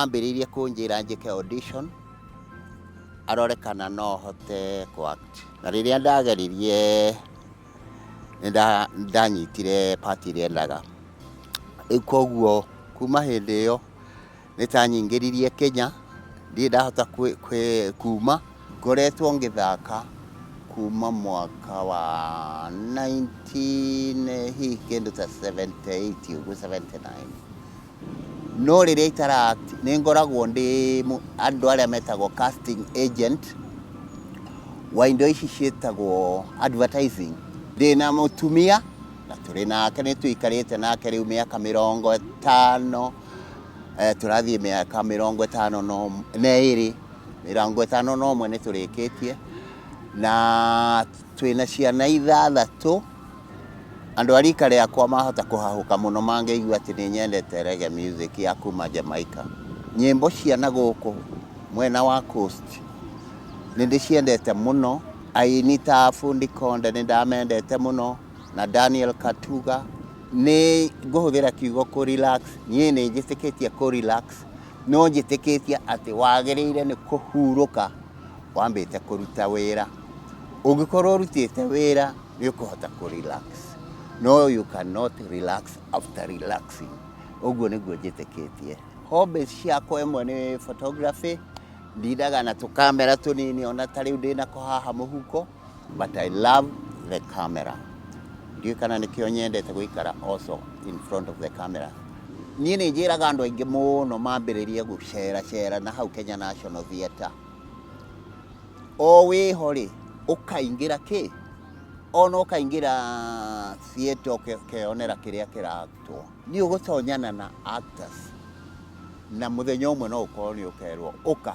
Ambĩrĩirie kũnjĩra njĩke audition arore kana no hote kũ act. Na rĩrĩa ndageririe nĩ nda- nĩ ndanyitire part ĩrĩa endaga. Rĩu koguo kuma hĩndĩ ĩyo nĩ tanyingĩririe Kenya, ndirĩ ndahota kwĩ- kwĩ- kuma. Ngoretwo ngĩthaka kuma mwaka wa 19 hihi kĩndũ ta 78 ũguo 79. No rĩrĩa itara act nĩ ngoragwo ndĩ andũ arĩa metagwo casting agent wa indo ici ciĩtagwo advertising. Ndĩ na mũtumia na tũrĩ nake nĩ tũikarĩte nake rĩu mĩaka mĩrongo ĩtano eh, tũrathiĩ mĩaka mĩrongo ĩtano na ĩrĩ mĩrongo ĩtano na ũmwe nĩ tũrĩkĩtie na twĩna ciana ithathatũ Andũ a rika rĩakwa mahota kũhahũka mũno mangĩigua atĩ nĩ nyendete reggae music ya kuma Jamaica. Nyĩmbo cia na gũkũ mwena wa coast nĩ ndĩciendete mũno. Aini ta Fundi Konde nĩ ndamendete mũno na Daniel Katuga. Nĩ ngũhũthĩra kiugo kũ relax, niĩ nĩ njĩtĩkĩtie kũ relax, no njĩtĩkĩtie atĩ wagĩrĩire nĩ kũhurũka wambĩte kũruta wĩra ũngĩkorwo ũrutĩte wĩra nĩ ũkũhota kũ relax no you cannot relax after relaxing ũguo nĩguo njĩtĩkĩtie hobbies ciakwa ĩmwe nĩ photography ndindaga na tũkamera tũnini ona ta rĩu ndĩnako haha mũhuko but I love the camera ndiũĩ kana nĩkĩo nyendete gũikara also in front of the camera niĩ nĩ njĩraga andũ aingĩ mũno mambĩrĩrie gũcera cera na hau Kenya National Theatre o wĩho rĩ ũkaingĩra kĩ ona ũkaingĩra theatre ũkeyonera kĩrĩa kĩrarutwo Nĩ ũgũtonyana na actors na mũthenya ũmwe no ũkorwo nĩ ũkerwo ũka.